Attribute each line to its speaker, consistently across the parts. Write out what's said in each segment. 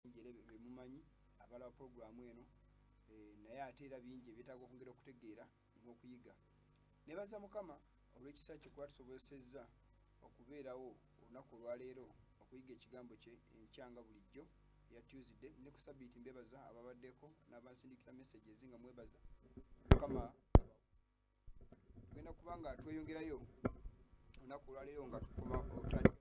Speaker 1: njere bemumanyi abala programu eno eh, naye ate era bingi ebyetaaga okwongera okutegeera n'okuyiga nebaza mukama olw'ekisa kye kuba tusobozesezza okubeerawo olunaku olwaleero okuyiga ekigambo kye enkyanga bulijjo ya tuesday ne ku sabiiti mbebaza ababaddeko n'abansindikira messages nga mwebaza mukama tugenda kuba nga tweyongerayo olunaku olwaleero nga tukoma otandika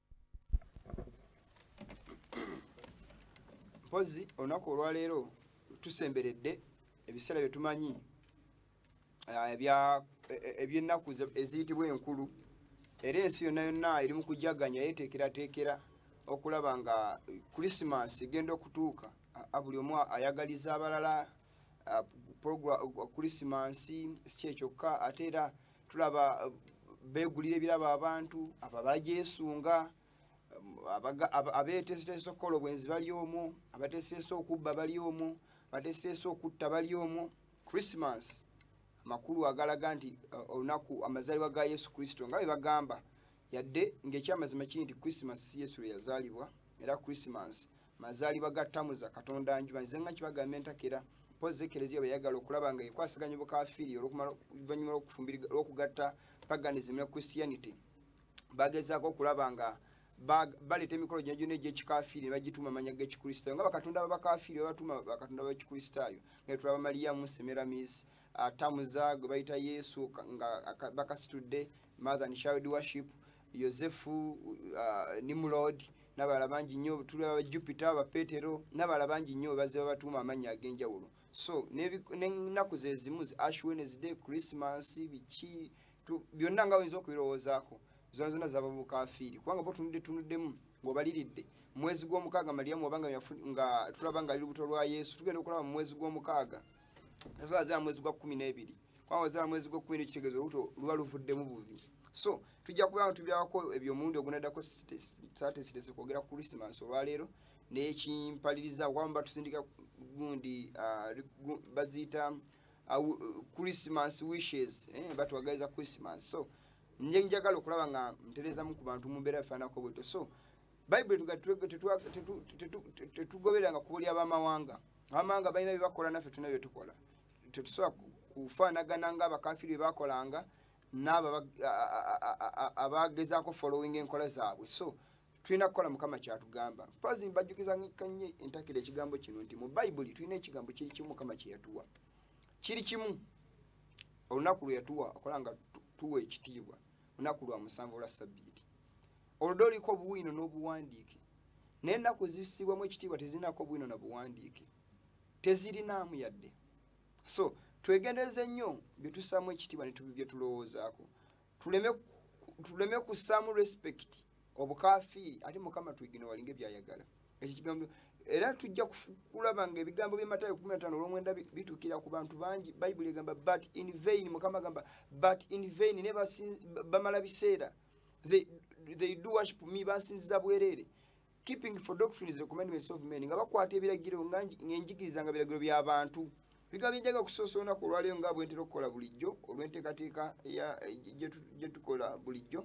Speaker 1: mpozi olunaku olwaleero tusemberedde ebiseera byetumanyi ah, e, e, ebyennaku eziyitibwa enkulu era ensi yonna yonna eri mu kujaganya yeteekerateekera okulaba nga krisimansi egenda okutuuka buli omu ayagaliza abalala uh, kulisimansi sikye kyokka ate era tulaba uh, begulira ebirabo abantu abo abagyesunga um, abeteeseteesa okukola obwenzi bali omwo abateeseteesa okubba bali omwo abateeseteesa okutta bali omwo christmas amakulu agalaga nti uh, olunaku amazaalibwa ga yesu kristo nga bwe bagamba yadde ng'ekyamazima kiri nti christmas si yesu lwe yazaalibwa era christmas mazaalibwa ga tamuza katonda njuba nze nga kibagamba entakera mpozi ekereziya beyagala okulaba nga ekwasaganya obukafiiri oluvanyuma lwokugatta paganism ne christianity bagezaako okulaba nga baleeta emikolo gyona gyona egyekikafiiri ne bagituuma amanya g'ekikristaayo nga bakatonda babakafiiri babatuuma bakatonda bakikristaayo nga tulaba maliyamu semeramis atamuza gwe bayita yesu nga bakasitudde mother and child worship yosefu uh, nimrod nabala bangi nnyo tuli aba jupiter aba petero nabala bangi nnyo bazze babatuuma amannya ag'enjawulo so n'ennaku ze zimu zi ash wednesday christmas biki byonna nga oyinza okubirowoozaako zona zona zaba bukafiiri kubanga botunudde tunuddemu ng'obaliridde mwezi gw'omukaaga maliyamu oba nga tulaba nga ali lubuto lwa yesu tugenda okulaba mu mwezi gw'omukaaga nazo azala mwezi gwa kumi n'ebiri kubanga ozala mwezi gwa kumi nekitegeeza olubuto luba luvuddemu buvi so tujja kuba nga tubyako ebyo omundi ogunaddako satesitese kwogera ku krisimansi olwaleero nekimpaliriza kuba muba tusindika gundi ah, baziyita ah, christmas wishes eh, batwagaliza christmas so nje njagala okulaba nga nterezamu ku bantu mu mbeera bifaanako bwetyo so bayibuli tetugobereranga kubulya bamawanga amanga balina byebakola naffe tulina byetukola tetusobola kufaanagana nga abakafiri byebakolanga naabo abagezaako following enkola zaabwe so tulina kukola mukama kyatugamba mpazi mbajjukiza kanye entakira ekigambo kino nti mu bayibuli tulina ekigambo kiri kimu mukama kyeyatuwa kiri kimu olunaku lweyatuwa okola nga tuwa ekitiibwa olunaku lwa musanvu olwa sabbiiti oluda oliko obuwiino n'obuwandiike naye ennaku zissibwamu ekitiibwa tezirinaako obuwiino na buwandiike tezirinaamu yadde so twegendereze nnyo bye tusaamu ekitiibwa bye tulowoozaako tuleme kussaamu respect obukafiiri ate mukama twigine walinga ebyayagala ekyo kigambo era tujja kulaba nga ebigambo byematayo kumi natano olwomwenda bitukira ku bantu bangi bayibuli egamba but in vain mukama agamba but in vain ne bamala biseera they, they do worship me basinziza bwerere keeping for doctrines the commandments of men nga bakwata ebiragiro nga enjigiriza nga biragiro bya bantu biga bijaga kusosa olunaku olwaleero nga bwentera okukola bulijjo olw'enteekateeka gyetukola eh, bulijjo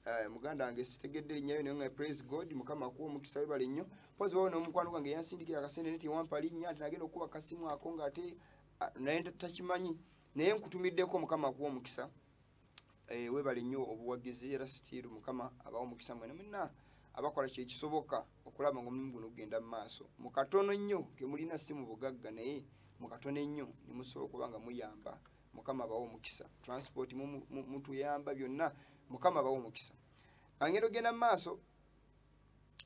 Speaker 1: eh, muganda wange sitegedde linnyayo naye nga praise god mukama akuwa omukisa webale nnyo mpozi wawo n'omukwano gwange yansindikira akasente neti wampa linnya nti nagenda okukuba akasimu ako ng'ate ah, naye takimanyi naye nkutumiddeko mukama akuwa omukisa eh, webale nnyo obuwagizi era sitiiru mukama abawo omukisa mwena mwena abakola kyekisoboka okulaba nga omulimu guno gugenda mu maaso mu katono nnyo kemulina si mu bugagga naye mu katono ennyo ne musobola okuba nga muyamba mukama abawo omukisa transport mutuyamba byonna mukama abawo omukisa angenda ogenda mu maaso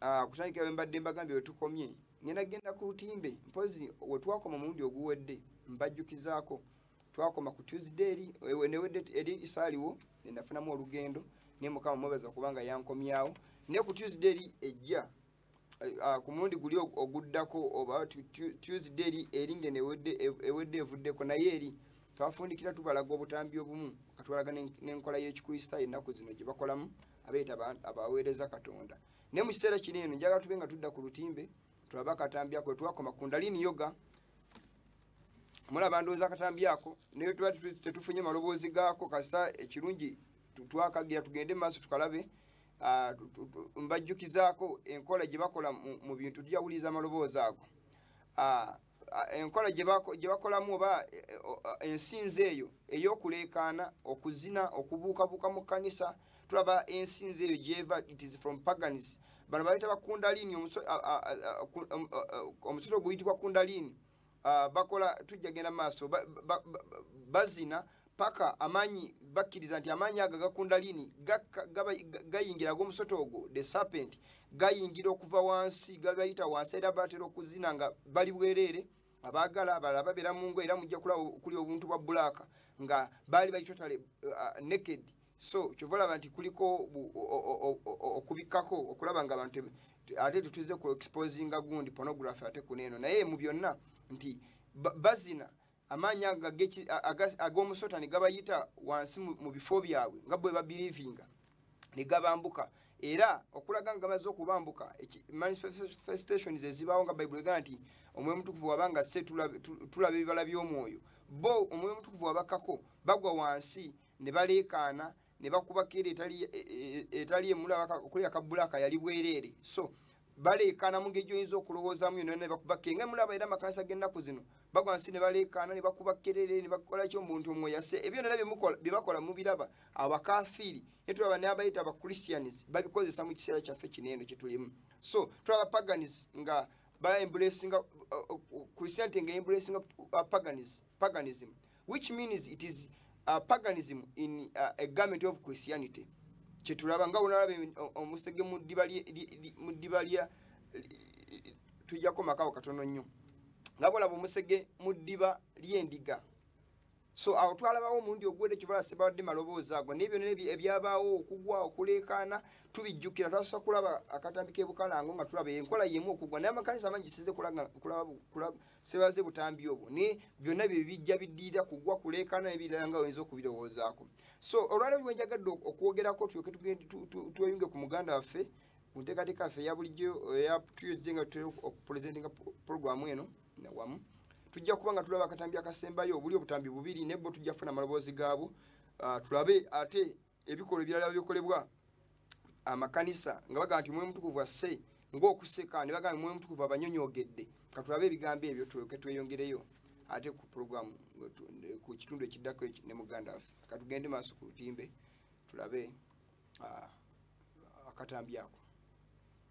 Speaker 1: ah, kutandikira bwe mbadde mbagambye wetukomye ngenda genda ku lutimbe mpozi wetwakoma omulundi oguwedde mbajjukizaako twakoma ku tuesday eri ewe newe eri isaliwo nenafunamu olugendo ne mukama mwebaza kubanga yankomyawo ne ku tuesday eri ejja uh, ku mulundi guli oguddako oba tuesday eri eri nge ewedde evuddeko naye eri twafundikira tubalaga obutambi obumu katwalaga n'enkola y'ekikristaayo ennaku zino gye bakolamu abeeta abaweereza katonda naye mu kiseera kino eno njagala tube nga tudda ku lutimbe tulaba akatambi ako wetwakoma kundalini yoga mulaba ndowooza akatambi ako naye tuba tetufunye maloboozi gaako kasita ekirungi twakagira tugende maaso tukalabe ah, mbajjukizaako enkola gye bakola mu bintu tujawuliriza amaloboozi ago ah, enkola gye bakolamu oba e, e, ensinza eyo eyokuleekaana okuzina okubuukabuuka mu kkanisa tulaba ensinza eyo gyeva it is from pagans bano bayita bakundaliini omusolo guyitibwa kundaliini bakola tujja genda maaso bazina paka amaanyi bakkiriza nti amaanyi ago agakundaliini gayingira ag'omusota ogwo the serpent gayingira okuva wansi gabayita wansi era batera okuzina nga bali bwereere abaagala abalala babeera mu ngo era mujja kulaba okuli obuntu bwa bulaaka nga baali bali totale uh, uh, naked so kyova olaba nti kuliko okubikkako okulaba nga abantu ate tetuze ku exposinga gundi pornography ate kuneeno naye mu byonna nti bazina ba, amaanyi ag'omusota ne gabayita wansi mu bifo byabwe nga bwe babirivinga ne gabambuka era okulaga nga gamaze okubambuka manifestations ezibaawo nga bayibuli ega nti omwoyo mutukuvu waba nga se tulaba ebibala by'omwoyo bo omwoyo mutukuvu wabakako bagwa wansi ne baleekaana ne bakuba keera etali e, e, e, emulaba okuleka kabulaaka yali bwereere so baleekaana mu ngeri gyoyinza okulowoozamu yona ne bakuba keera nga emulaba era amakanisa g'ennaku zino bagwa nsi ne baleekaana ne bakuba kerere ne bakola ki omuntu omwe yase ebyo nera bye bakola mubiraba abakafiiri ne tulaba n'abayita abachristians babikozesa mu kiseera kyaffe kino eno kye tulimu so tulaba paganis nga baembulesinga christianity nga embulesinga uh, paganism which means it is uh, paganism in uh, a garment of christianity kyetulaba nga wonalaba omusege mu ddiba lya tujjako makawo katono nnyo nga bolaba omusege mu ddiba ly'endiga so awo twalabawo omundi ogwedde kyobola sibadde maloboozi ago naye byonna ebyabaawo okugwa okuleekaana tubijjukira twasooka kulaba akatambi k'ebukalango nga tulaba enkola yemu okugwa naye amakanisa amangi size kulaba sebaze butambi obwo ne byonna bye bijja biddirira kugwa kuleekaana ebirala nga oyinza okubirowoozaako so olwaleero kiwe njagadde okwogerako tulyoke tweyunge ku muganda waffe ku nteekateeka yaffe eya bulijjo eyatuyozije nga tutera okupuresentinga puroguramu eno wamu tujja kuba nga tulaba akatambi akasembayo obuli obutambi bubiri nebbo tujja kufuna amaloboozi gaabwo ah, tulabe ate ebikolwa ebirala bikolebwa amakanisa nga bagamba nti omwoyo mutukuvu asse ngaokuseka ne bagamba omwoyo mutukuvu abanyonyogedde katulabe ebigambo ebyo tulyoke tweyongereyo ate ku programu ku kitundu ekiddako ne muganda waffe katugende maaso ku lutimbe tulabe akatambi ako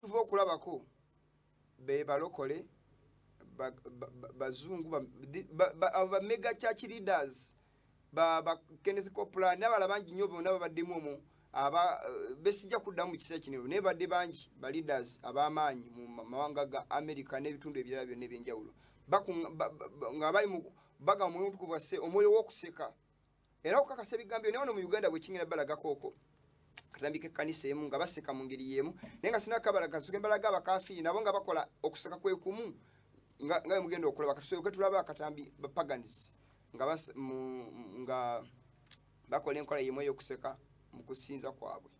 Speaker 1: tuva okulabako bebalokole bazungu abo bamega church leaders bakenneth copla nabala bangi nyo bona babaddemu omu aba eh, besijja kuddamu mu kiseera kino naye badde bangi ba leaders ab'amaanyi mu mawanga ga america n'ebitundu ebirala byonna ebyenjawulo nga bali mu baga omwoyo omutukuvu asse omwoyo w'okuseka era okukakasa ebigambo naye ono mu uganda bwekingenda balagako okwo katandika ekkanisa emu nga baseka mu ngeri yemu naye nga sina kabalaga nsoke mbalaga abakafiiri nabo nga bakola okuseka kwekumu nga nga mugenda okulaba katusoke tulaba akatambi bapaganizi nga bas, mu, nga bakola enkola yemu eyokuseka mu kusinza kwabwe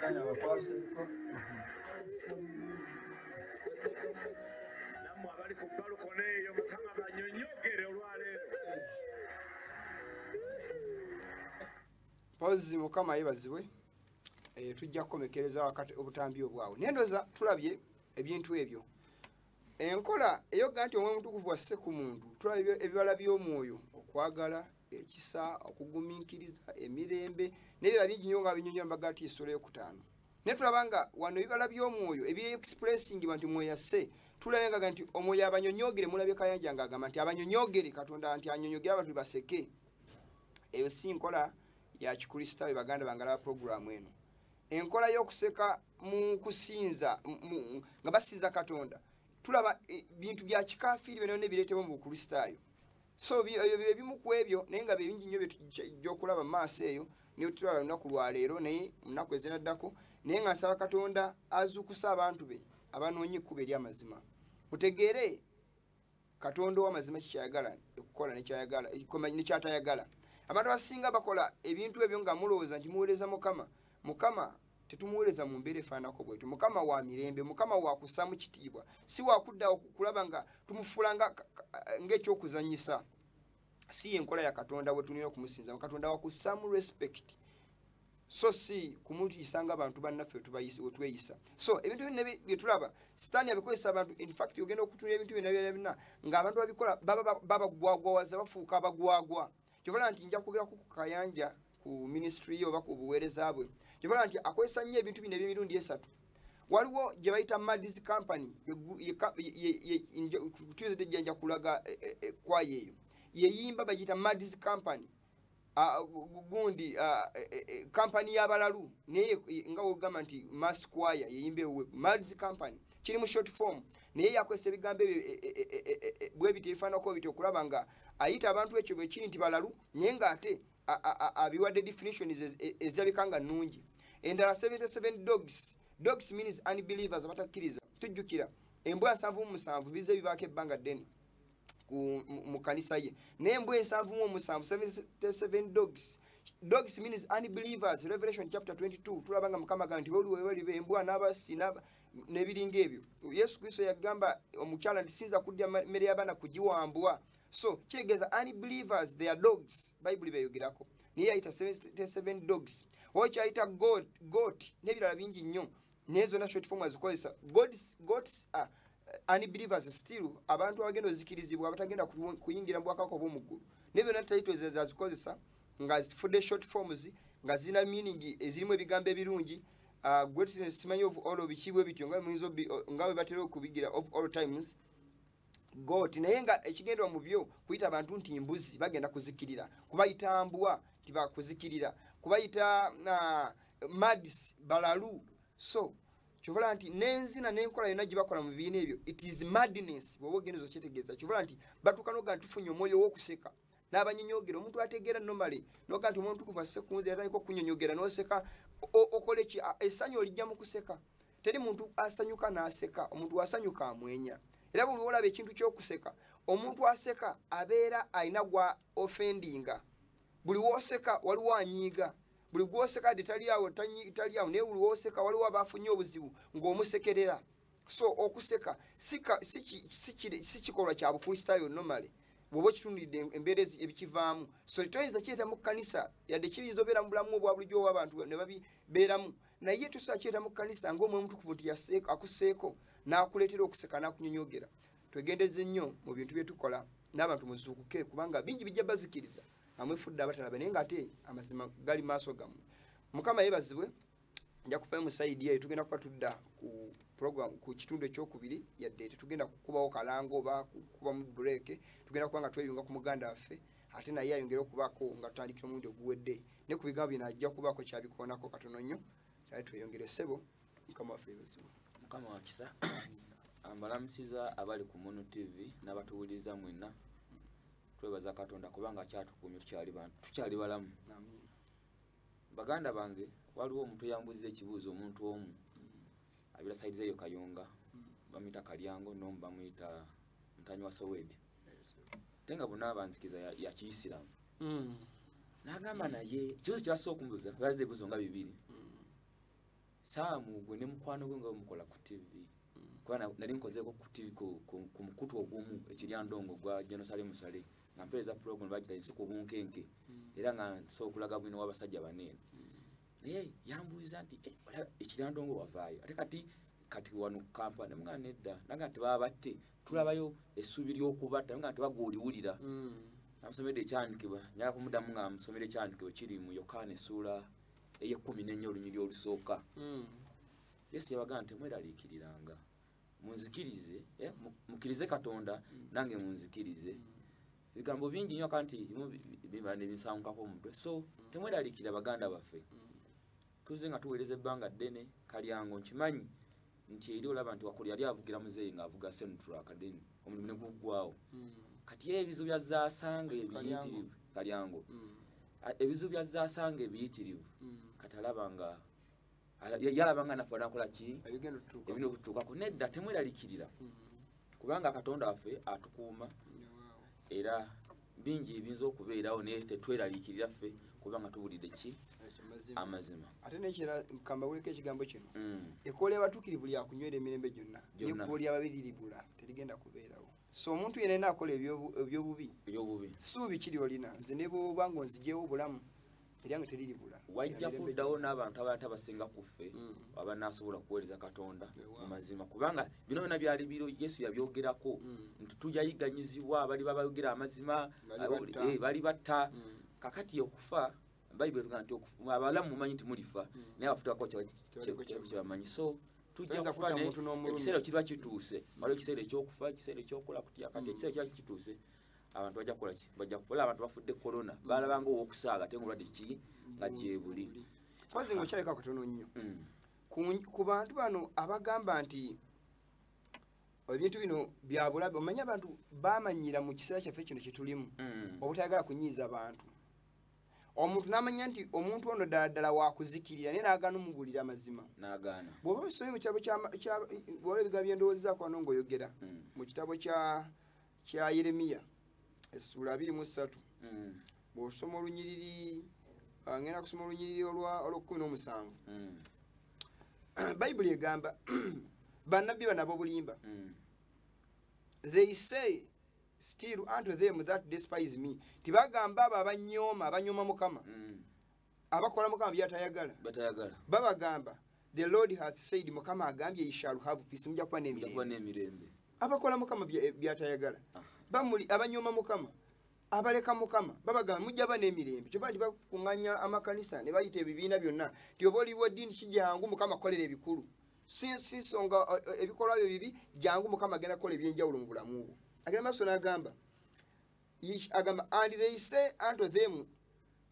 Speaker 1: Kanya bakwase ko. nammwe abali ku balukona eyo mukama banyonyogere olwaleero mpozzi mukama yebazibwe eh, tujja kukomekereza wakati obutambi obwawo naye ndoza tulabye ebintu ebyo enkola eyoga nti omwoyo mutukuvu wasse ku muntu tulaba ebibala by'omwoyo okwagala ekisa okugumiikiriza emirembe nebirala bingi nyo nga binyonyola mbaga ti esula yokutaano naye tulaba nga wano ebibala by'omwoyo ebyexpressingi banti mweyasse tulabe ngaga nti omwoyo abanyonyogere mulabye kayanja nga agamba nti abanyonyogere katonda nti anyonyogere abantu baseke eyo si nkola ya kikristaayo baganda bangalaba puroguramu eno enkola y'okuseka mu kusinza nga basinza katonda tulaba e, bintu bya kikafiiri byona byona ebireetebwa mu bukristaayo so ebyo byebimu ku ebyo naye nga byebingi nnyo byetujja okulaba mu maaso eyo naye tulaba lunaku lwaleero naye munaku ezinaddako naye nga nsaba katonda azuukusa abantu be abanoonye ekkuba eri amazima mutegeere katonda owamazima kikyayagala okukola nekyayagala nekyatayagala abantu abasinga bakola ebintu ebyo nga mulowooza nti muweereza mukama mukama tetumuweereza mu mbeera efaanako bwetu mukama wa mirembe mukama wakussaamu kitiibwa si wakuddawo kulaba nga tumufuula ngaekyokuzanyisa si yenkola ya katonda wetulina okumusinza katonda wakusamu respect so si kumuyisa nga bantu bannaffe wetweyisa so ebintu byonna byetulaba sitaani abikozesa abantu infact ogenda okutunira ebintu byonna byona nga abantu babikola babagwagwawaza bafuuka abagwagwa kyobola nti nja kwogera ku kayanja ku ministry ye oba ku buweereza bwe kyovala nti akozesa nnyo ebintu bino ebyemirundi esatu waliwo gye bayita madis company tuizidde jjanja kulaga e, e, e, kwayo eyo yeyimba bagiyita madis company gundi kampani y'abalalu naye nga wogamba nti mass choir yeyimba ewe madis company kiri mu short form naye yakozesa ebigambo ebyo e, e, e, bwebiti ebifaanako biti okulaba nga ayita abantu ekyo bwekiri nti balalu naye ngaate abiwadde definitions e, ezabika nga nungi endala 77 dogs dogs means unbelievers abatakkiriza tujjukira embwa nsanvu mu musanvu bize bibaako ebbanga ddene mu kanisa ye naye embwa ensanvu mu omusanvu 77 dogs dogs means unbelievers revelation chapter 22 tulaba nga mukama gamba nti boliwebalibe embwa n'abasi n'ebiringa ebyo yesu kristo yagamba omukyala nti sinza kudya mmere y'abaana kugiwambwa so kitegeeza unbelievers their dogs bayibuli beyogerako naye yayita 77 dogs oba kyayita goat n'ebirala bingi nnyo naye zonna short form azikozesa gods gods are uh, unbelievers still abantu abagenda ozikirizibwa abatagenda kuyingira mu bwakako obwomuggulu naye byonna talitwezazikozesa nga zifudde short forms nga zirina meaning ezirimu ebigambo ebirungi uh, greatness simanyi of all obikiibwe bityo nga bwe batera okubigira of all times got naye nga ekigendwa mu byo kuyita abantu nti mbuzi bagenda kuzikirira kubayita mbwa nti bakuzikirira kubayita uh, mads balalu so kyobola nti nenzina nenkola yona gyebakola mu bibiina ebyo it is madness bwoba ogendezo kyetegeeza kyobola nti batuuka noga nti tufunye omwoyo wokuseka nabanyonyogera omuntu ategeera nomale noga nti omuntu kuva sekunzi atandika okunyonyogera noseka okoleki esanyu olijja mu kuseka teri muntu asanyuka n'aseka omuntu wasanyuka amwenya era buli olaba ekintu kyokuseka omuntu aseka abeera alina gwa ofendinga buli woseka waliwo anyiiga buli gwoseka de taliawo taliawo naye buli woseka waliwo abafunye obuzibu ng'omusekerera so okuseka si kikolwa kya bukristaayo nomale bwoba okitunulidde embeera ebikivaamu so toyinza kiyeta mu kkanisa yadde kiyinza obeera mu bulamu obwa bulijjo obwabantu ne babibeeramu naye tusakyera mu kanisa nga omwe omutukuvu nti akuseeko n'akuleetera okuseka n'akunyonyogera twegendeze nnyo mu bintu bye tukola n'abantu muzuukuke kubanga bingi bijja bazikiriza amwefudde abatalaba naye ng'ate amazima gali maaso gammwe mukama yebazibwe nja kufayo musaidi eyo tugenda kuba tudda ku program ku kitundu ekyokubiri yadde tetugenda kukubawo kalango oba kukubamu break tugenda kuba nga tweyunga ku muganda waffe ate naye ayongere okubaako nga tutandikira omulundi oguwedde ne ku bigambo bino ajja kubaako kyabikoonako katono nnyo kyali tweyongere ssebo mukama waffe ebizibu mukama
Speaker 2: wakisa mbalamusiza abali ku munu tv n'abatuwuliriza mwenna twebaza katonda kubanga kyatukuumye tukyali bantu tukyali balamu baganda bange waliwo omuntu yambuziza ekibuuzo omuntu omu abira saidiza eyo kayunga bamuyita kalyango nomu bamuyita ntanyi wa sowedi tenga bona abanzikiza ya, ya kiisilamu mm. nagamba naye kibuzo kyasa okumbuza baza ebibuzo nga bibiri mm. saamu gwe ne mukwano gwe nga omukola ku tv mm. kuba nali nkozeeko ku tv ku, ku, ku mukutu ogumu ekiryandongo gwa genosale musale nga mpeereza program bagita ensi ku bunkenke mm. era nga nsobola okulaga bwino w'abasajja baneene mm. naye yambuuza nti eh, ekirandongo wavaayo ate kati kati wano kampala ne mwana nedda naga nti baba batte tulabayo essuubi ly'okubatta nga nti bagwuliwulira mm. amusomedde ekyandikibwa nyala kumudamu nga amusomera ekyandikibwa kiri mu yokaana essuula ey'ekkumi n'ennya olunyiri olusooka mm. yesu yabaga nti mweraliikiriranga munzikirize eh, mukirize katonda mm. nange munzikirize mm. ebigambo bingi nyo kanti biba nebinsangukako omutwe so mm. temweralikira baganda baffe tuze nga tuweereza ebbanga ddene kalyango nkimanyi nti eri olaba nti wakuli yali avugira muzeeyi ngaavuga sentrakaden omulimu ne guggwawo kati ye ebizibu byazasanga ebiyitirivu kalyango ebizibu byazasanga ebiyitirivu kati alaba nga yalaba nga nafe nakola ki ebina okutuukako nedda temweralikirira hmm. kubanga katonda waffe atukuuma era bingi ebiyinza okubeerawo naye tetweralikirira ffe kubanga tubulidde ki amazima ate nekira
Speaker 1: kambawuleko ekigambo kino hmm. ekoola abatukirivu lyakunywera emirembe gyonna nekooli ababiriribula terigenda kubeerawo so omuntu yena ena akola ebyobubi ebyobubi suubi kiri olina nze nebwoba nga onzijewo obulamu eryange teriribula wajja kuddawo
Speaker 2: n'abantu abalata basinga ku ffe mm. aba nasobola kuweereza katonda mu mazima kubanga bino byona byali biro yesu yabyogerako mm. nti tujayiganyizibwa bali babayogera amazima eh, bali batta mm. kakati okufa bayibuli etuga nti abalamu mumanyi nti mulifa naye abafutako kyebamanyi so tujja kufa ekiseera kirwa kituuse waliwo ekiseera ekyokufa ekiseera ekyokula kutya kati ekiseera kirwa kituuse abantu bajja kukola ki bajja kukola abantu bafudde corona balabanga owokusaaga ate ngaolwadde ki nga gyebuli kwazi nga okyaleka
Speaker 1: katono nnyo mm. ku bantu bano abagamba nti ebintu bino byabulabe omanyi abantu bamanyira mu kiseera kyaffe kino kyetulimu mm. obutayagala kunyiiza bantu omuntu namanya nti omuntu ono ddaladala wakuzikirira naye nagana omubulira amazima bwoba
Speaker 2: osomye mu kitabo
Speaker 1: bwola ebigambo byendowoozezaako ano ngaoyogera mm. mu kitabo kya kya yeremiya essuula abiri mu ssatu mm. bw'osoma olunyiriri ah, ngenda kusoma olunyiriri olw'okkumi n'omusanvu mm. bayibuli egamba bannabbi bana b'obulimba mm. they say still unto them that despise me tibagamba abo abanyooma abanyooma mukama abakola mukama byatayagala batayagala babagamba the lord has said mukama agambye you shall have peace mujja kuba n'emirembe abakola mukama byatayagala bamuli abanyooma mukama abaleka mukama babagamba mujja ba n'emirembe kyoba nti bakunganya amakanisa ne bayita ebibiina byonna ti oba oliwo ddiini kijangu mukama kukolera ebikulu sinsonga ebikolwa byo bibi jangu mukama agenda kukola ebyenjawulo mu bulamu bwo agenda maaso n'agamba Ish agamba, and they say unto them,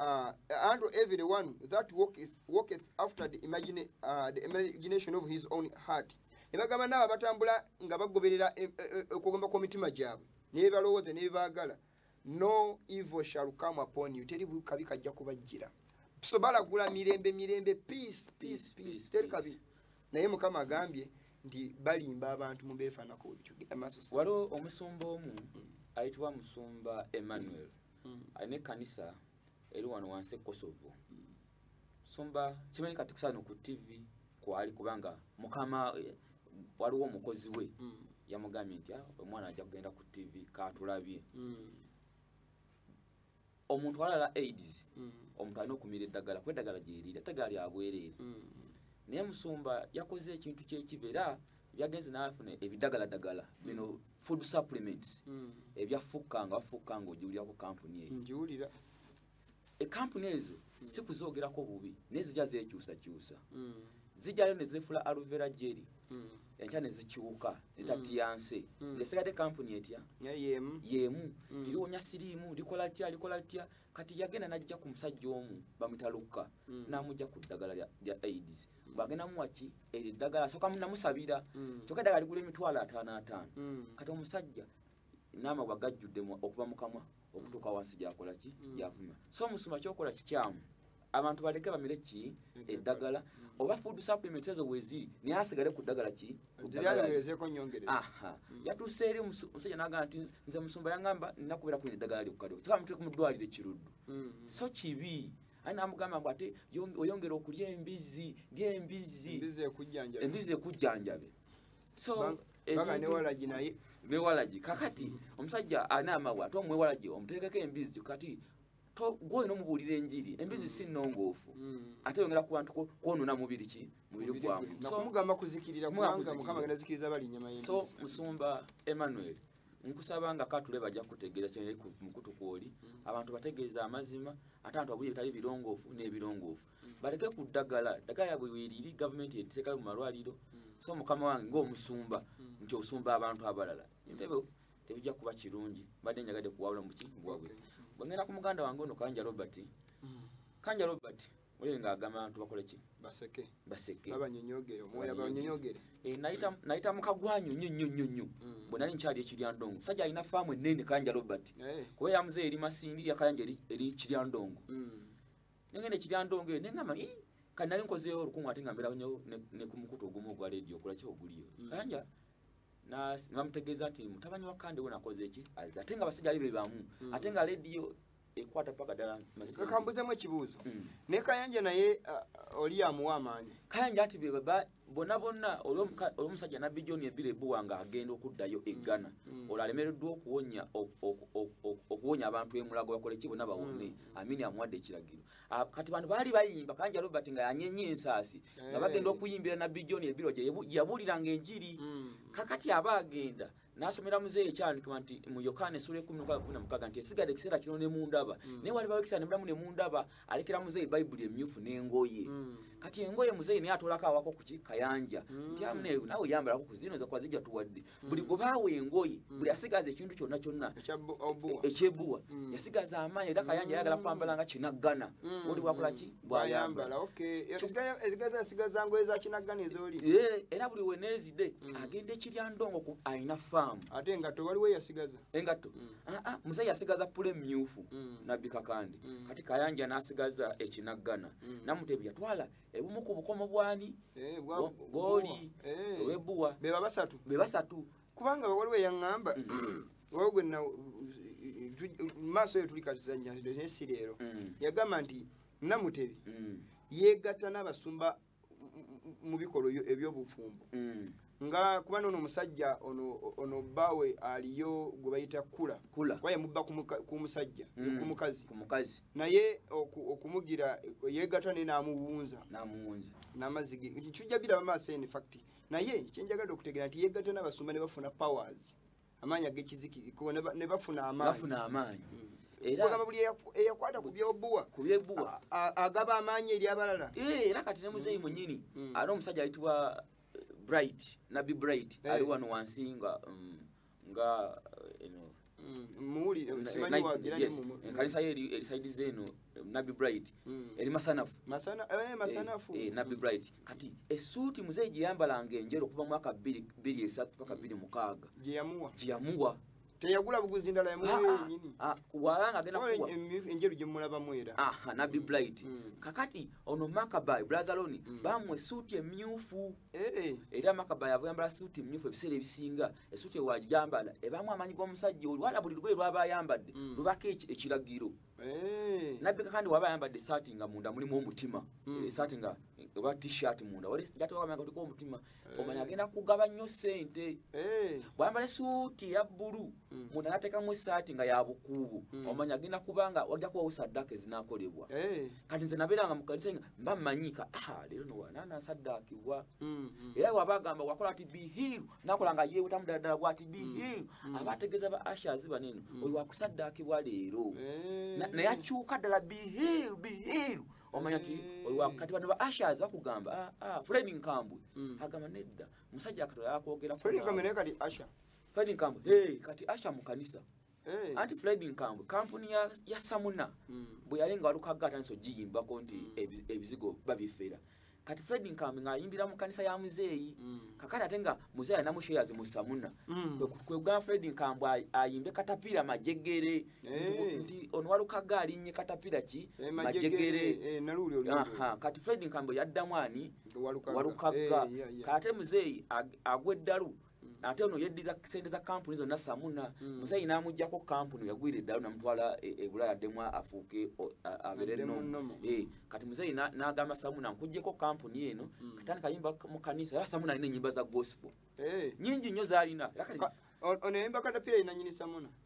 Speaker 1: uh, unto every one that walketh, walketh after the, imagine, uh, the imagination of his own heart. Ne bagamba n'abo abatambula nga bagoberera eh, eh, eh, okugomba kw'omitima gyabwe ne bye balowooza ne bye baagala no evil shall come upon you teri kabi kajja kubajjira so balagula mirembe mirembe peace peace peace teri kabi naye mukama agambye nti balimba abantu mubefanako waliwo
Speaker 2: omusumba omu mm. ayitibwa musumba emmanuel mm. alina ekkanisa eri wano wansi ekosovo mm. musumba kimanyi kati kusano ku tv kwali kubanga mukama eh, waliwo omukozi we yamugambye nti ah, omwana ajja kugenda ku tv katulabye omuntu alala aids mm. omuntu alina okumira eddagala kuba eddagala gyeriri ate gaali abwereere mm. naye musumba yakoze ekintu kyekiba era byagenze nafuna ebidagaladagala bino mm. food supplements ebyafukka nga bafukka nga ogiwulirako kampuni eyo ngiwulira ekampuni ezo sikuzoogerako bubi naye zija zekyusakyusa zijjayo nezefula aluvera jeri enkya ne zikyuka ne tatiyanse mm. mm. ng'esigadde kampuni etya yeemu yeemu mm. tiriwonya siriimu likola litya likola litya kati yagenda n'ajja ku musajja omu bamutalukka n'amugya ku ddagala lya aids bwagenda muwaki eryo eddagala asoka namusabira kyokka eddagala ligula emitwalo ataano ataano kati omusajja n'amagwa gajjudde okuva mu kamwa okutuuka wansi gyakola ki mm. gyavuma so omusuma kyokola kikyamu abantu baleke bamire ki eddagala oba food supplements ezo weziri naye asigale ku ddagala ki
Speaker 1: yatuuse eri
Speaker 2: omusajja nagamba nti nze musumba yangamba nina kubeera kuina eddagala lyokukaliwo kika mutueke mu ddwaliro ekiruddu mm-hmm. so kibi aye namugamba ngu ate oyongera okulya embizzi lyembizzi embizzi ekujjanjabe so baba newalagi
Speaker 1: naye newalagi kakati
Speaker 2: omusajja ana amawa ate omwewalagi omuteekako embizi kati gwe olina omubuulira enjiri embizi mm. si nnongoofu mm. ate yongera ku bantu kwonona mubiri ki mubiri gwamumugamba kuzikirira
Speaker 1: kubanga mukama agenda zikiriza bali nyama ye so musumba
Speaker 2: emmanuel nkusaba nga katule bajja kutegeera kyeri mukutu kwoli mm. abantu bategeeza amazima ate abantu abuli bitali birongoofu n'ebirongoofu baleke ku ddagala ddagala yabwe weriri gavumenti eteekayo mu malwaliro so mukama wange ngaomusumba nti osumba abantu abalala entebe tebijja kuba kirungi mbadde njagadde kuwawula muki mubuwabuzi bwengenda ku muganda wange ono kanja robert kanja robert oyo nga agamba abantu bakole ki baseke baseke babanyonyogere omwoyo
Speaker 1: abanyonyogere eh naita naita
Speaker 2: mukagwanyo nyo nyo nyo nyo mm. bona ni chali ekirya ndongo saja ina famu nene kanja robert eh. kwa ya mzee eri masindi ya kanja eri eri kirya ndongo mm. nengenda ekiryandongo eyo nengamba i kati nali nkozeyo olukumu ate nga mbeera nyo ne ku mukutu ogumu ogwa leediyo okulaki oguliyo mm. kanja namutegeeza nti mutabani wa kande we nakoze eki aze ate nga abasajja ali be bamu mm. ate nga leediyo ekwata paka dala masimu kambuzemu ekibuzo mm.
Speaker 1: ne kayanja naye uh, oli amuwa amaanyi kayanja ati beba
Speaker 2: bona bonna olwomusajja nabbi john ebira ebuwa nga agenda okuddayo e ghana mm, mm. olwo alemereddwa okuwonya okuwonya abantu emulago bakoleki bona bawone mm, amini amuwadde ekiragiro ah, kati bantu baali bayimba kanja robert nga yanyenye ensaasi nga eh. bagenda okuyimbira nabbi john ebirwa gyeyabuuliranga enjiri kakati aba agenda nasomera muzeeyi ekyandikibwa nti mu yokaana esula ekumi nokaa kumi namukaga nti esigala ekiseera kino ne mundaba mm. naye walibawo ekiseera nemulamu ne mundaba alekera muzeeyi bayibuli emyufu n'engoye mm. kati engoye muzeeyi naye atolako awako kuki kayanja mm. nti amune nawe yambalako ku zino zakuba zijja tuwadde buli gwebaawo engoye buli asigaza ekintu kyonna kyonna ekyebuwa yasigaza amaanyi era kayanja ayagala kwambala nga kinaggana oli wakola ki bwayambala
Speaker 1: eh, era buli
Speaker 2: wenezide mm. agenda ekirya ndongo alina faamu ate engatto waliwo
Speaker 1: yasigaza engatto mm. ah,
Speaker 2: ah, musa yasigaza pule myufu mm. nabbi kakandi kati kayanja nasigaza ekinaggana namutebi yatwala ebumu ku bukomo bwani eh, bwoli eh. owebuwa
Speaker 1: bebasatu kubanga waliwo eyaŋŋamba waliwo gwe maaso eyo tuli kazanya naye si leero mm. yagamba nti namutebi mm. yeegatta n'abasumba mu bikolwa eby'obufumbo mm. nga kuba noono omusajja ono bbaawe aliyo gwe bayita kula kuba yamubba ku musajja ku mukazi naye okumugira yeegatta naye n'amuwunza n'amazzi ge nti tujja biraba maaso eni fakiti naye kyenjagala okutegera nti yegatta nabasumba nebafuna powers amaanyi agekizikiriko nebafuna amaanyi ogamba buli eyakwata ku byobuwa agaba amaanyi eri abalala eh, era kati ne muzeeyi
Speaker 2: mm. munyini mm. ate omusajja ayitibwa eh, bright nabbi bright eh. ali wano wansi nga mm, nga eh, eno
Speaker 1: muli eh, simanyi eh, wagira ni mu kanisa yeri
Speaker 2: eri side zeno eh, nabi bright mm. eri masanafu masana eh masanafu
Speaker 1: eh, eh nabi mm. bright
Speaker 2: kati esuti muzee jiyambala ngenjero kuva mwaka 2 2 3 paka 2 mukaga jiyamua jiyamua teyagula
Speaker 1: buguzi ndala yamwe ah, ah, nyini ah, walanga agenda kuwa
Speaker 2: enjeru je mulaba
Speaker 1: mwera ah nabi mm. blight
Speaker 2: mm. kakati ono makabai brother loni mm. bamwe suti emyufu Eh. era makaba yava yambala suuti mmyufu ebiseera ebisinga esuuti ewagijambala ebaamu amaanyi g'omusajja oli wala buli lugoye lwaba ayambadde mm. lubako ekiragiro eh. nabbika kandi waba ayambadde esaati nga munda mulimu omutima mm. esaati nga oba tshirt munda waliatwaagatiko omutima eh. omanya agenda kugaba nnyo ssente bwayambala esuuti eya bbulu mm. munda natekamu esaati nga yabukuubu mm. omanya agenda kubanga wajja kubawo saddaaka ezinakolebwa hey. Eh. kati nze nabeeranga mu kanisa nga mba manyika ah, leero nowanana saddaakibwa mm, mm. era waba agamba wakola ati bihiru nakola nga yeewetamu ddala ddala bwati bihiru mm, mm. aba ategeeza ba ashazi baneno mm. oyo wakusaddaakibwa leero hey. Eh. naye akyuka ddala bihiru bihiru omanya nti eh. oyo wakati bano ba ashazi bakugamba ah, ah, fulaini nkambwe mm. agamba nedda musajja akatola yakwogera fulaini nkambwe naye kati asha
Speaker 1: Fred Nkambwe
Speaker 2: hey, kati Asha mu kanisa hey. anti Fred Nkambwe kampuni ya, ya Samuna mm. bwe yali nga walukagga atandise ogiyimbako nti mm. ebizigo babifera kati Fred Nkambwe ng'ayimbira mu kanisa ya muzeeyi mm. kakati ate nga muzeeyi alinamu shares mu Samuna mm. kwegamba Fred Nkambwe ayimbe katapira majegere hey. nti ono walukagga alinnye katapira ki hey, eh, majegere hey, eh, kati Fred Nkambwe yaddamu ani walukagga hey, eh, yeah, yeah. kati ate muzeeyi agwa eddalu Mm. ate ono yeddiza sente za kampuni zonna samuna mm. musayi namugjako kampuni yagwira eddalo namutwala e, e bulaya addemu afuuke abeere nomu eh, kati musayi nagamba samuna nkugjeko kampuni eno mm. katani kayimba mu kanisa era samuna alina enyimba za gospel eh. nyingi nnyo zalina ono yayimba
Speaker 1: katapira yinanyini samuna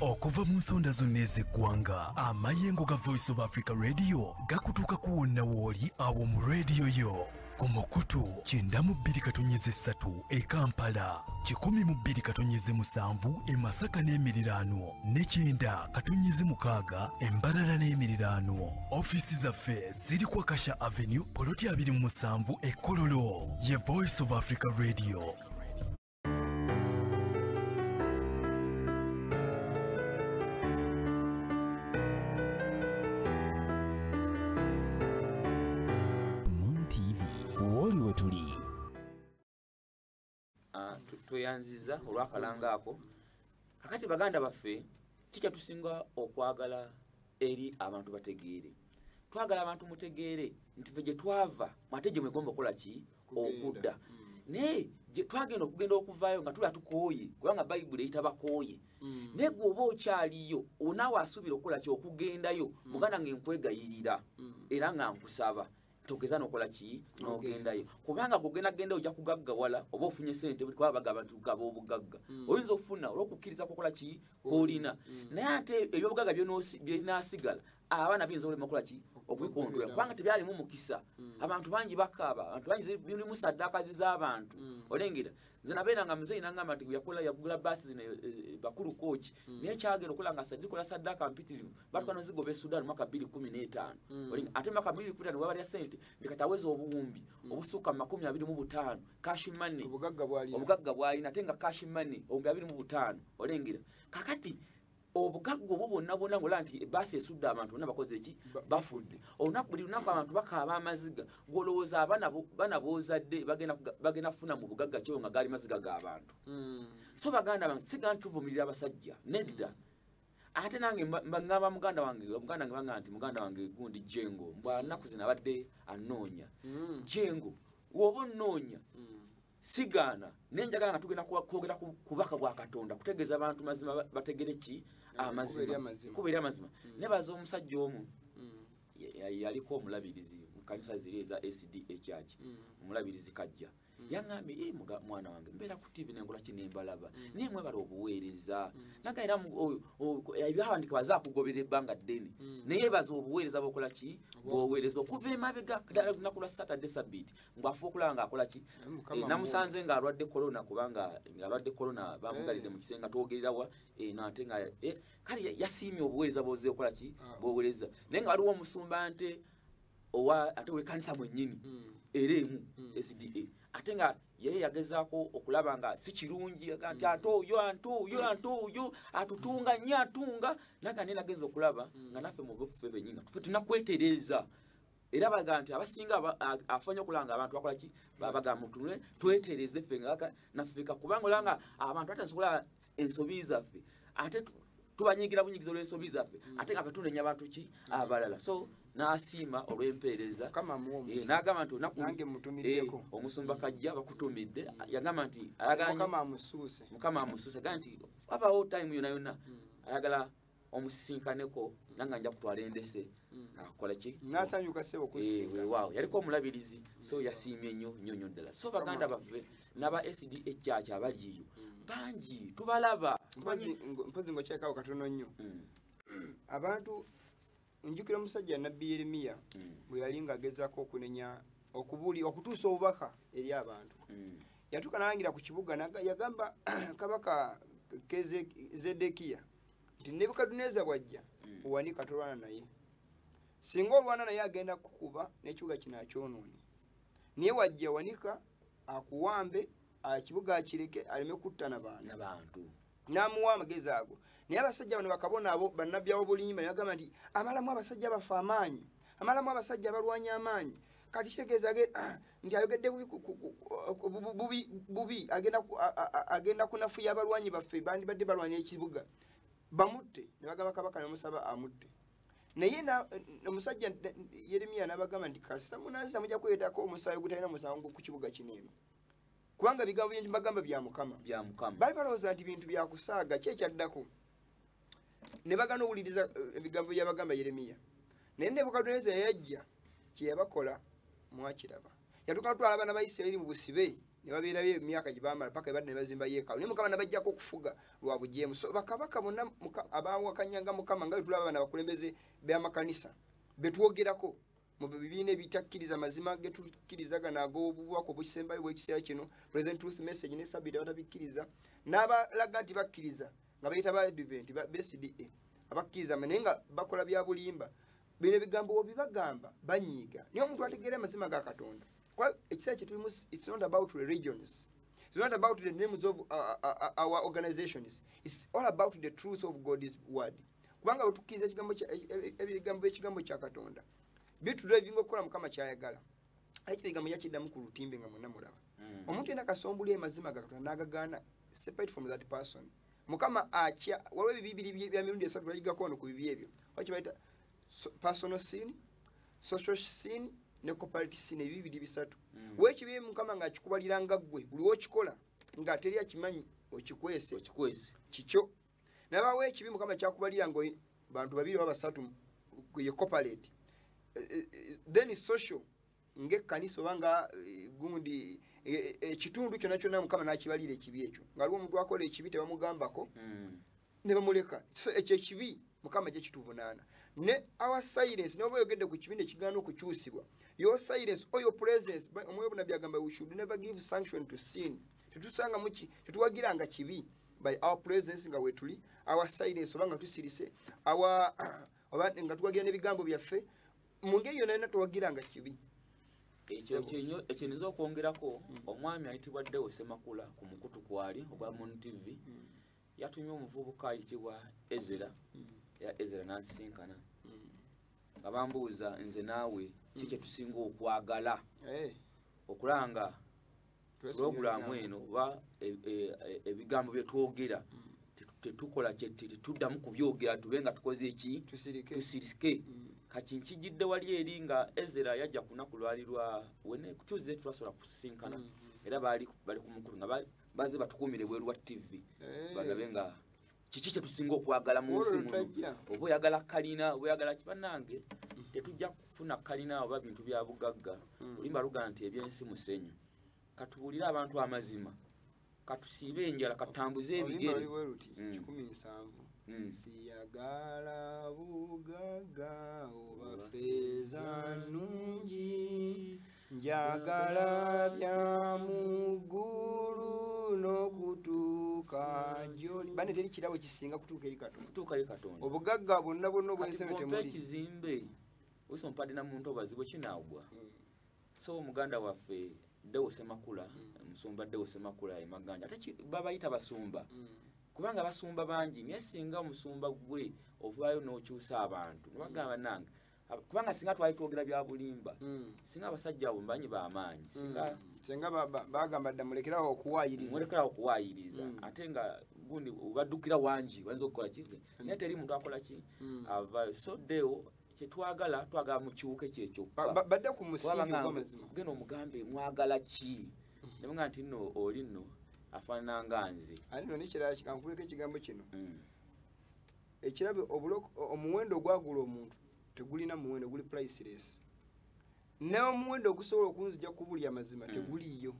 Speaker 3: okuva mu nsonda zonna ez'eggwanga amayengo ga voice of africa radio gakutuuka ku wonna wooli awo mu rediyo yo ku mukutu kyenda mu bbiri katonyeze ssatu e kampala kikumi mu bbiri katonyeze musanvu e masaka n'emiriraano ne kyenda katonyeze mukaaga embalala n'emiriraano ofiisi zaffe ziri ku akasha avenue poloti abiri mu musanvu e kololo ye voice of africa radio
Speaker 2: tweyanziza olwakalanga ako kakati baganda baffe kikyatusinga okwagala eri abantu bategeere twagala abantu mutegeere nti fe gyetwava mwate gye mwegomba okukola ki okudda hmm. naye twagenda okugenda okuvaayo nga tuba tukooye kubanga bayibuli eyita bakooye hmm. naye gwe oba okyaliyo onaawe asuubira okukola ki okugendayo hmm. muganda nga enkwegayirira era nga nkusaba togeza nokola ki nogendayo kubanga gogenda genda oja kugagga wala oba ofunye sente kwa bagaba nti ugaba obugagga mm. oyinza okufuna olwokukiriza kukola ki olina mm. naye ate ebyobugaga byonasigala abaana biyinza olema okola ki okubikontola kubanga tebyalimu mukisa mm. abantu bangi bakaaba abantu bangi bilimu saddakazi z'abantu mm. olengera nze nabeera nga muzeeyi nangamba nti yakola yagula baasi zino eh, eh, bakulu kooki mm. naye kyagera okola nga zikola saddaka mpitirivu batuka nozigoba esudan mwaka bbiri kumi n'etaano ate mwaka bbiri kumi waba lya sente ndikataweza obuwumbi obusukka mu makumi abiri mu butaano cash money obugagga bwalina ate nga cash money obuwumbi abiri mu butaano olengera kakati obugagga obwo bwonna bwonna ngolaba nti ebaasi esudde abantu bonna bakoze eki bafudde olunaku buli lunaku abantu bakaaba amaziga gwolowooza abana bozadde bagenda kufuna mu bugagga kyo nga gaali maziga g'abantu hmm. so baganda bange siga nti tuvumirira abasajja nedda mm. ate nange ngamba muganda wange muganda wange banga nti muganda wange gundi jengo mbwa naku zina badde anoonya mm. jengo woba onoonya mm. sigaana naye njagala nga tugenda kwogera ku bubaka bwa katonda kutegeeza abantu mazima bategere ki amazimakuba eri amazima mm. nebaza omusajja omu mm. yaliko omulabirizi mukanisa ziri eza sd ekyaki mm. omulabirizi kajja yaŋambye e mwana wange mbeera ku tivi nenkolaki nembalaba naye mwebala obuweereza naga era ebyawandika baza akugobera ebbanga ddene naye baza obuweereza bokola ki bwoweereza okuva emabega ddala lunaku lwa saturday sabiti mbu afuba okulaba nga akola ki eh, namusanze nga alwadde corona kubanga nga alwadde corona bamugalidde mu kisenga twogererawa eh, nate nga eh, kale yasiimye obuweereza bwoze okola ki ah. bwowereza naye nga waliwo omusumba nte owa ate wekanisa mwennyini hmm. era emu hmm. sda ate nga yeye yagezaako okulaba nga si kirungi aga nti hmm. ate oyo ante oyo ante oyo atutunga nnyo atunga naga naye nagenza okulaba nga naffe mu buffe bennyini nga tufe tunakwetereeza era baga nti abasinga afanya okulanga abantu bakola ki babaga mutunule twetereze ffe ngaka nafeka kubanga olanga abantu atansobola ensobi zaffe ate tubanyigira bunyigiza olw'ensobi zaffe mm. ate nga batunenya bantu ki abalala so n'asiima olw'empeereza eh, n'agamba nti eh, omusumba kajja bakutumidde yagamba nti mukama amusuuse ga nti wabaawo time yona yona mm. ayagala omusisinkaneko nanga nja kutwala endese mm. nakola ki nasanyuka sebo kusinga eh, wow yaliko omulabirizi so yasiimye nnyo nnyo nnyo ddala so baganda baffe naba sd ekyacha abaliyo mm. bangi tubalaba mpozi
Speaker 1: ngokyekawo katono nnyo mm. abantu njukira omusajja nabbi yeremiya mm. bwe yali ng'agezaako okunenya okubuli okutuusa obubaka eri abantu mm. yatuuka nalangira ku kibuga yagamba kabaka zedekiya nti nebukaduneza bwajja mm. owanika tolwana naye singa olwana naye agenda kukuba n'ekibuga kino akyonoone naye wajja wanika akuwambe ekibuga akireke aleme kutta nabantu n'amuwa amagezi ago naye abasajja bano bakabona abo bannabbi awobulimba ne bagamba nti amalamu abasajja baffe amaanyi amalamu abasajja abalwanya amaanyi kati kitegeeza ah, nti ayogedde bubi agenda kunafuya abalwanyi baffe bandibadde balwanya ekibuga bamutte ne bagamba kabaka nemusaba amutte naye omusajja yeremiya nabagamba nti kasita munansi amujja kwetako omusaayi ogutalina musango ku kibuga kineeno kubanga ebigambo byengi bagamba bya mukama bali balowooza nti bintu byakusaaga ki ekyaddako ne bagana owuliriza eh, ebigambo byabagamba yeremiya naye nebukaduneza yayajja kyeyabakola mwakiraba yatuka natwala abaana ba isirairi mu busibe ne babeerayo emyaka gye bamala paka ebadde ne bazimba yeekaalu naye mukama nabajjako okufuga lwa bujeemu so bakabaka bonna abawakanyanga mukama nga bwetulaba abaana bakulembeze b'amakanisa betwogerako mu bibiina ebitakkiriza mazima getukkirizagana ag'obubaka obukisembayo bw'ekiseera kino president truth message ne sabiti abatabikkiriza n'abalaga nti bakkiriza nga bayita ba advent bcda abakkiriza naye nga bakola bya bulimba bino ebigambo webibagamba banyiiga naye omuntu ategeera amazima ga katonda kuba ekiseera kyetulimu its not about religions It's not about the names of uh, uh, uh, our organizations. It's all about the truth of God's word. kubanga wetukkiriza ekigambo e, e, e, ebigambo byekigambo kya katonda bitudrivinga okukola mukama kyayagala aye kino ekigambo yakiddamu ku lutimbe nga mwena mulaba mm. omuntu yena kasombuli emazima ga katonda nagagaana separate from that person mukama akya waliwo ebibi biri bya mirundi esatu lwagigako ono ku bibi ebyo wakibaita personal sin social sin ne cooperative sin ebibi biri bisatu mm. wekibi mukama nga akikubalira nga ggwe buli wokikola nga teri akimanyi okikwese kikyo nabawo ekibi mukama kyakubalira nga bantu babiri oba basatu ye cooperate eh, eh, eh, then social ngaekkanisa oba nga gundi ekitundu kyona kyona mukama nakibalira ekibi ekyo nga aliwo omuntu akola ekibi tebamugambako hmm. nebamuleka so ekyo ekibi mukama gye kituvunaana ne our silence noba oyogedde ku kibi nekigaana okukyusibwa your silence or your presence omwoyo bunabi agamba we should never give sanction to sin tetusanga muki tetuwagiranga kibi by our presence nga wetuli our silence oba nga tusirise our oba nga tuwagira n'ebigambo byaffe mu ngeri yona yona tuwagiranga kibi ekyo
Speaker 2: kinyo ekyo nizo okwongerako hmm. omwami ayitibwa dewo semakula ku mukutu kwali ogwa mon tv hmm. yatumye omuvubuka ayitibwa ezera hmm. ya ezera nansisinkana nga bambuuza nze naawe ki kyetusinga okwagala eh. okulanga pulogulaamu eno oba e, e, e, ebigambo bye twogera tetukola tetuddamu kubyogera tube nga tukoze eki tusirike mm. kati nkijidde wali eri nga ezera yajja kunaku lwali lwa wenekutuzze twasobola kusisinkana mm, mm. era bali ku mukulu nga baze batukuumire bweru wa ttivi eh. balabe nga kiki kyetusinga okwagala mu nsi muno oba oyagala kalina oba oyagala kibanange tetujja kufuna kalina oba bintu bya bugagga hmm. olimba luga nti ebyensi musenyu katubuulire abantu amazima katusiibe enjala katambuze ebigere Mm.
Speaker 1: siyagala bugaga oba feza nungi njagala bya muggulu n'okutuuka gyoli bane teri kirabo kisinga kutuuka eri katonda obugagga bwonna bwonna obwensebetemukizimbe
Speaker 2: osi ompadde na muntu obazi bwe kinaagwa hmm. so muganda waffe ddewo semakula hmm. musumba ddewo semakula emaganja ate babayita basumba hmm. kubanga basumba bangi naye singa omusumba gwe ovaayo n'okyusa abantu nibagamba nange kubanga singa twali twogera byabulimba hmm. singa abasajja abo mbanyi bamaanyi hmm. singa
Speaker 1: bagamba dda mulekerawo okuwayiriza mulekerawo okuwayiriza
Speaker 2: hmm. ate nga gundi baddukira wangi bayinza okukola ki naye teri muntu akola ki avayo so deo kyetwagala twagala mukiwuka ekyekyokubadde ku
Speaker 1: musigena omugambe
Speaker 2: mwagala ki nabenga nti no oli no afaanana nga nze ani no nekirala
Speaker 1: kankuleko ekigambo kino ekirabe omuwendo ogwagula omuntu tegulina muwendo guli priceless n'omuwendo ogusobola okunzija kubuli amazima hmm. teguliyo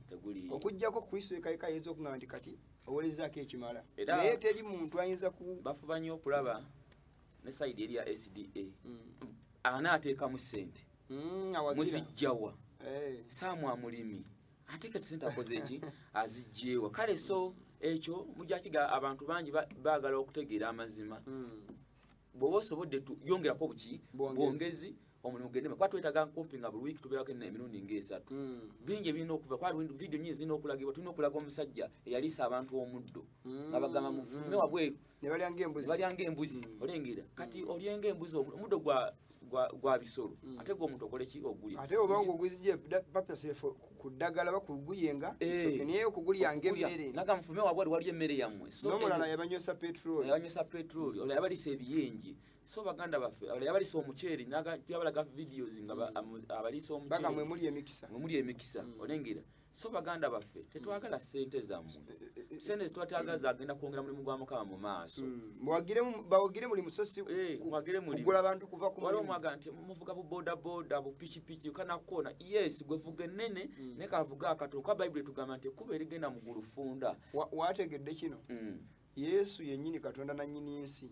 Speaker 1: okugjako kristo ekaika ayinza okugamba nti kati owolezaako ekimala naye teri muntu ayinza ku bafuba nnyo okulaba
Speaker 2: ne saidi eri ya sda hmm. anaateekamu sente hmm, muzijjawa eh. saamu amulimi ate kati sente akoze eki azijjeewa kale so ekyo mujakiga abantu bangi baagala okutegeera amazima hmm. bwoba osobodde yongerako buki bwongezi omulimu gendema kuba twetaga nkumpi nga buli wiiki tubeerako emirundi ngaesatu hmm. bingi ebirina okuva kuba vidiyo nyingi zirina okulagibwa tulina okulaga omusajja eyaliisa abantu omuddo nga bagamba mufume wabweru nebalyanga embuzi
Speaker 1: nebalyanga embuzi
Speaker 2: mm. olengera kati mm. olyenga embuzi omuddo gwa gwa bisolo mm. ate gwo omuntu okole ki ogulya ate oba ngo guzije
Speaker 1: papa sefo kudagala bakuguyenga eh. so niyo kugulyanga emere naga mfume wabwe wali
Speaker 2: emere yamwe so no mulala yabanyosa
Speaker 1: petrol yabanyosa petrol ola yabali
Speaker 2: sebiyengi so baganda bafe ola yabali so omucheri naga yabala ga videos nga abali so omucheri baga mwe muli emikisa mwe
Speaker 1: muli emikisa
Speaker 2: olengera so baganda baffe tetwagala sente zamwe sente twatagaza agenda kwongera mulimu gwa mukama mu maaso hmm. mwagire bawogire
Speaker 1: muli musosi eh, mwagire muli kugula abantu kuva ku waliwo mwaga nti muvuga
Speaker 2: bu boda boda bu pichi pichi kana kona yes gwe vuga nene mm. ne kavuga akato kwa bible tugamba nti kuba erigenda mu gulufunda wategedde
Speaker 1: kino mm. yesu yenyini katonda na nyini ensi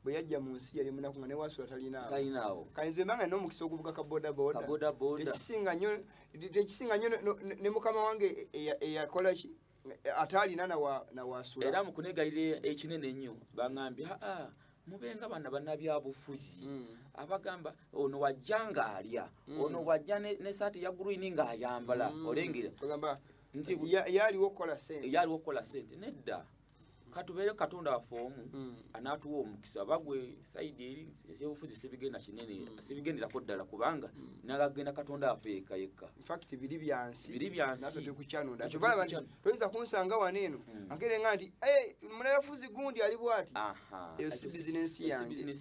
Speaker 1: bwe yajja mu nsi yali munaku nga newasula talinaawo kale nze mbanga nina omukisa okuvuga ka bodabodatekisinga nyo ne mukama wange eyakolaki ataalina nawasula era mukunegayira
Speaker 2: ekinene ennyo bangambye aa mubenga bana banabyabufuzi mm. abagamba ono wajja ngaalya mm. ono wajja nesaati ne ya green ngaayambala mm. olengera
Speaker 1: yaliwo okukola sente nedda
Speaker 2: katubeere katonda waffe omu hmm. anaatuwa omukisa bagwe saidi eri ebyobufuzi sibigenda kinene hmm. sibigenderako ddala kubanga hmm. nagagenda katonda waffe yekka yekka infact biri byansi
Speaker 1: biri byansikyanoyinza kunsanga wano eno agere nga nti eh, munayafuzi gundi ali bwati eyo si bizinensi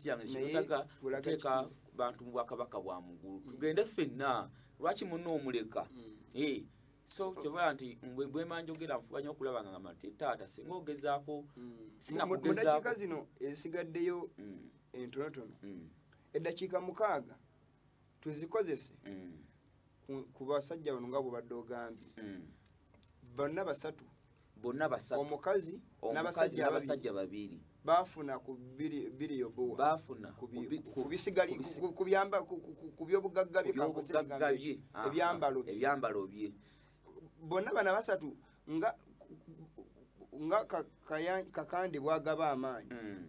Speaker 1: yangeotaga
Speaker 2: kuteeka bantu mu bwakabaka bwa mugulu tugende ffenna lwaki munna omuleka eh, so kyoba nti bwema njogera nfuba nyo okulaba nga ngamba nti taata singa ogezaako mm. sinakugezaako
Speaker 1: zino esigaddeyo mm. entonotono mm. eddakiika mukaaga tuzikozese ku basajja bano nga bwebadde ogambye bonna basatu bonna basatu omukazi n'abasajja
Speaker 2: babiri baafuna ku
Speaker 1: biri yobuwa baafuna ku byobugagga bye ebyambalo bye
Speaker 2: ebyambalo bye bonna
Speaker 1: bana basatu nga nga kakande bwagaba amaanyi mm.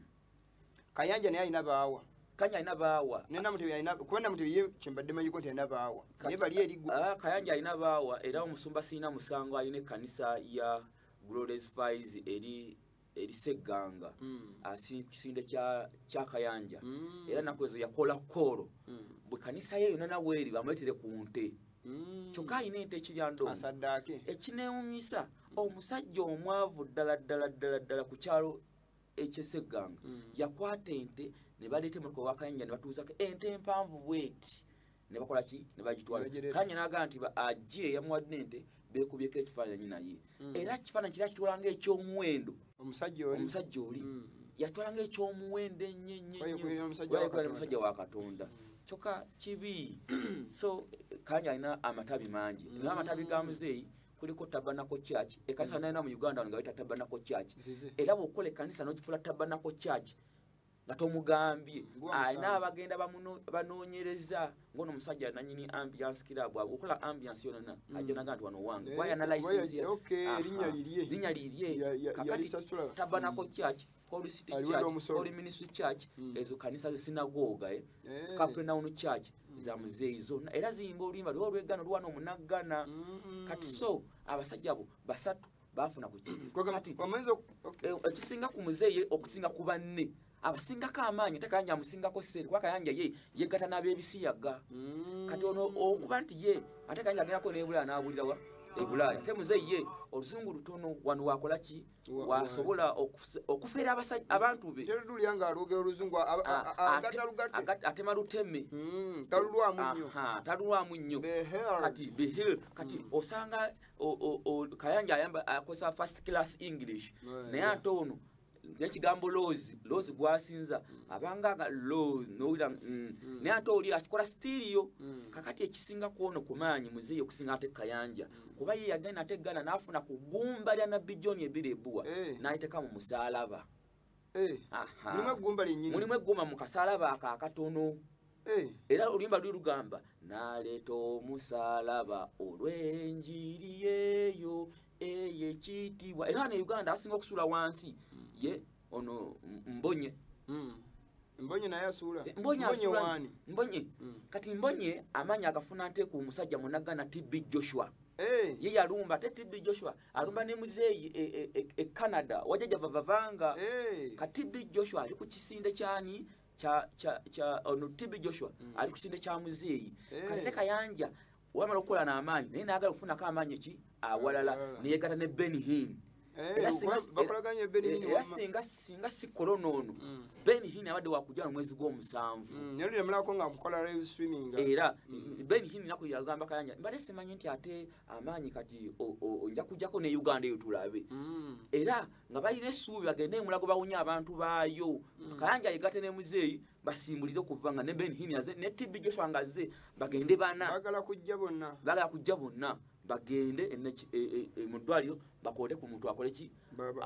Speaker 1: kayanja naye alina baawa kanya alina baawa nena mutebi alina kuba namutebi ye kyembadde manyiko nti alina baawa naye bali eri gwe ah, kayanja alina baawa
Speaker 2: era omusumba sirina musango alina ekkanisa ya glores fis eri erisegganga hmm. ah, kisinde kya kayanja hmm. era naku ezo yakola koolo hmm. bwe kanisa ye yona nawe eri bamuletere ku nte kyokka alina ente ekiryandoo ekinewunyisa omusajja omwavu ddala ddala ddala ddala ku kyalo ekyesegganga mm. yakwata ente ne baleeta emotoka wakayanja ne batuuzako ente empanvu bweti ne bakola ki ne bagitwala kanya n'agamba nti ajje eyamuwadde ente beekubyeko ekifaananyi naye mm. era kifaananyi kira kitwala ngaekyomuwendo omusajja oli mm. yatwala ngaekyomuwendo ennyenyenyomusajja wa katonda kyokka kibi so kanya alina amatabi mangi naye amatabi ga muzeeyi kuliko tabanako church ekanisa mm. nayina mu uganda nga weta tabanako church era bwokukola
Speaker 1: ekanisa
Speaker 2: nogifula tabanako church nga tomugambye alina abagenda banoonyereza ngono omusajja nanyini ambiance kirabu akola ambiance yonana mm. ajja naga nti wano wange wayana eh, lisensi linya lirye kakati tabanako church Holy City Aliwe Church, n'omusolo. Holy Ministry Church, Mm. ezo kanisa zesinagoga eh? Eh. Capernaum Church za muzeeyi zonna era ziyimba oluyimba lwe olwegana olwana omunaggana Mm. kati so abasajja abo basatu baafuna ku ki Kwagamba- kati wamanyiza oku- ok. eh, ekisinga ku muzeeyi okusinga ku banne abasingako amaanyi ate kayanja amusingako sente kuba kayanja ye yegatta n'ab'ebisiyaga Mm. kati ono okuba nti ye ate kayanja agendako n'ebulaaya n'abulirawa ebulaaya ate muzeeyi ye oluzungu lutono wano wakola ki wasobola okufera abantu be
Speaker 1: atema
Speaker 2: luteme hmm, talulwamu nnyo kati behir kati hmm. osanga kayanja akozesa first class english naye ate ono nekigambo lozi lozi gwasinza hmm. abanga lozi nowira naye ate oli akikola sitiiriyo kakati ekisinga kwono kumaanyi muzeeyi okusinga ate kayanja kuba ye yagenda ate gana nafuna ku gumba lya nabbi john ebiri ebuwa eh. nayiteka mu musalaba eh. mulimu eggumba mu kasalaba ako akatono eh. era oluyimba luli lugamba naleeta omusalaba olwenjiri yeyo eyekitiibwa era ne uganda asinga okusula wansi ye ono mbonye mm.
Speaker 1: mbonye naye asuula eh, mbonye asuula
Speaker 2: mbonye mm. kati mbonye amanya agafuna nte ku musajja munagana tb joshua hey. Eh. ye yalumba ate tb joshua alumba ne muzeeyi e, e, e, e canada wajaja vavavanga hey. Eh. ka tb joshua ali ku kisinde kyani kya kya kya ono tb joshua mm. ali ku kisinde kya muzeeyi hey. kati te kayanja wamala okukola n'amaanyi naye naagala okufunako amaanyi ki awalala neyegata ne ben hin eh, era singa singa sikola onoono mm. ben hin abadde wakujala omwezi gw'omusanvu mm, era mm. ben hin naku yagamba kayanja mbadde simanyi nti ate amaanyi kati onja kujjako ne uganda eyo tulabe era nga balina essuubi bagende emulago bawunya abantu baayo kayanja yegate ne muzeeyi basimbulire okuva nga ne ben hini aze ne tibbi joshua nga azze bagende bana bagala kujja bonna bagala kujja bonna bagende e, e, e, mu ddwaliro bakoote ku muntu akole ki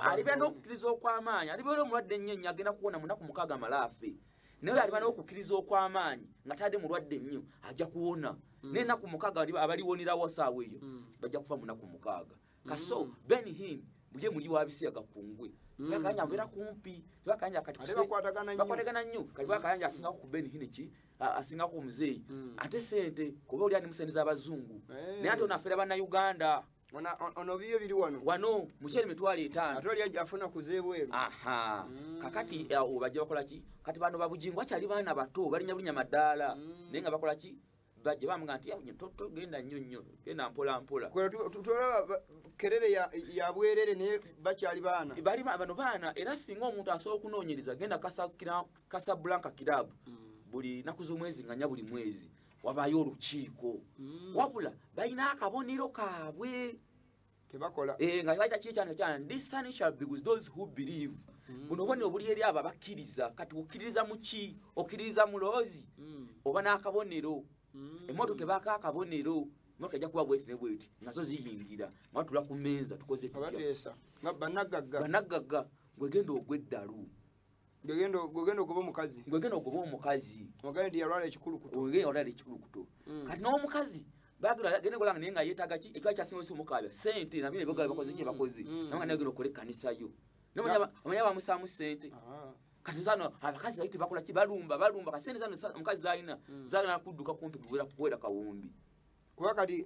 Speaker 2: aliba n'okukkiriza okw'amaanyi alibeera omulwadde ennyo ennyo agenda kuwona munaku mukaaga amalaafe naye aliba n'okukkiriza okw'amaanyi nga tadde mulwadde ennyo ajja kuwona mm. naye naku mukaaga abaliwonerawo saawa eyo mm. bajja kufa munaku mukaaga kaso mm. ben him muje muli wabisiya gakungwe mm. bakanya mbera kumpi bakanya kati bakwatagana nnyo kati bakanya asinga ku ben hine ki asinga ku mzee mm. ate sente kuba oli ani musendiza abazungu hey. Eh. naye ate onafera bana uganda ona ono biyo
Speaker 1: biri wano wano muchele
Speaker 2: mitwali etano atoli aje afuna kuzebwe
Speaker 1: aha mm. kakati
Speaker 2: obaje bakola ki kati bano babujingo achali bana bato bali nyabunya madala mm. nenga bakola ki bajja bamugamba nti yawunye togenda nnyo nnyo genda mpola mpola tolaba
Speaker 1: kerere yabwerere naye bakyali baana bali bano baana
Speaker 2: era singa omuntu asobola okunoonyereza genda kasablanka kirabu mm. buli naku z'omwezi nganya buli mwezi wabayo olukiiko mm. wabula balina akabonero kaabwe kebakola
Speaker 1: eh nga baita kiri kyana
Speaker 2: kyana this sun shall be with those who believe mm. buno bone obuli eri aba bakiriza kati ukiriza muki okiriza mulozi mm. oba nakabonero mm. emoto kebaka akabonero moto ja kuwa bwete ne bwete nazo ziyingira matula ku menza tukoze tutya abatesa nga
Speaker 1: banagaga banagaga gwegendo
Speaker 2: ogweddalu
Speaker 1: gwegenda okuba omukazi gwegenda okuba omukazi
Speaker 2: ogende nti yalwala
Speaker 1: ekikulukuto ogende yalwala ekikulukuto
Speaker 2: mm. kati n'omukazi bagenda kola nga naye nga yeetaaga ki ekiba kyasinga osi omukaabya sente nabino ebyogala bakoze ki bakoze mm. nabanga naye ogenda okola ekkanisa yo nomanya bamusaamu sente ah. kati zano abakazi baite bakola ki balumba balumba kasente zano omukazi zalina hmm. zagala kudduka kumpi kuwera kuwera kawumbi kuba kati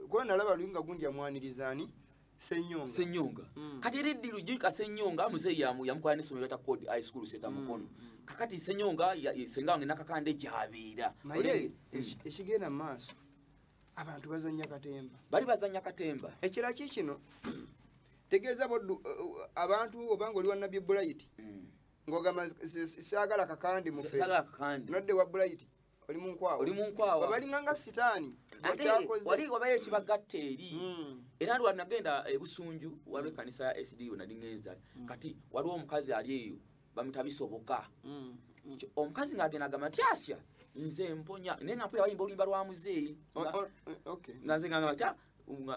Speaker 1: kuba nalaba luinga gundi amwaniriza ani Senyonga. Senyonga. Mm. Kati eri dilu jika Senyonga mzee ya mu yamkwa ni somero ta code high school seta mm. mukono. Mm. Kakati Senyonga ya senga ngina kakande jabira. Naye eshigena mm. maso. Abantu bazanya katemba. Bali bazanya katemba. Ekira kikino. Tegeza bodu uh, uh, uh, abantu obango oli wa Nabi Bulayiti. Mm. Ngogama sagala kakandi mufe. Sagala kakandi. Nodde wa Bulayiti. oli munkwawa oli munkwawa balinganga sitaani ate wali
Speaker 2: wabayo ekibagatta eri hmm. era lwa nagenda ebusunju waliwo ekanisa ya sdu nali ŋenza hmm. kati waliwo omukazi ali eyo bamuta bisoboka hmm. omukazi ng'agenda agamba nti asya nze mponya naye nga mpulira bayimba oluyimba lwa muzeeyi nga nze ngagamba ti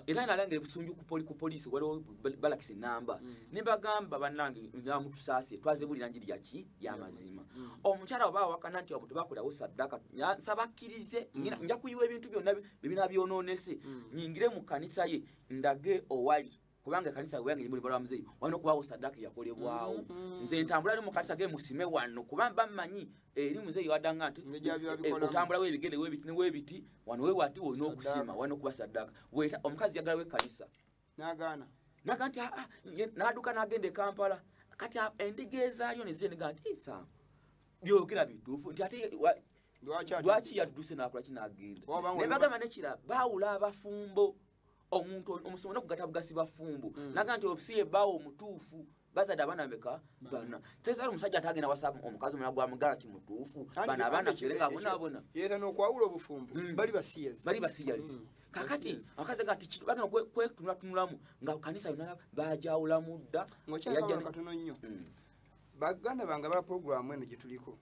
Speaker 2: era nalangire busunju kupoli ku poliisi waliwo balakisa enamba mm. ne bagamba bannange namutusaasire twazebulira njiri yaki yamazima mm. omukyala oba awakana nti abo tebakolawo saddaka nsaba akkirize mm. nja kuyiwa ebintu byonna bibina byonoonese nyingire mu kkanisa ye ndage owali kubanga ekanisa weyange yimuli balwa mzeyi wano kubawo sadaka yakolebwawo mm, mm. nze ntambula ali mu kanisa ge musime wano kuba bamanyi eri mzeyi wadanga nti eh, otambula webigele webiti newebiti wano wewati wolina okusima wano kuba sadaka weta omukazi yagala wekanisa nagana
Speaker 1: naga nti ah,
Speaker 2: ah, naduka nagenda ekampala kati ah, endiga ezalyo nezeniga nti isa byogera bitufu nti ate lwaki yatuduse nakola kinagenda nebagamba nekira bawula abafumbo omuntu omusomo nokugata bugasi bafumbu mm. naga nti obusiye bawo omutuufu bazadde abaana bameka bana tezali omusajja atagenda wasa omukazi omulala gwamugala nti mutuufu bana abaana fere nga bonabona era nokwawula
Speaker 1: obufumbo mm. bali basiyazi bali basiyazi mm. kakati abakazi nga ti bagenda kwetunulatunulamu nga kanisa yona bajawulamu dda ngokyakatono nnyo mm. baganda bange ba programu eno gyetuliko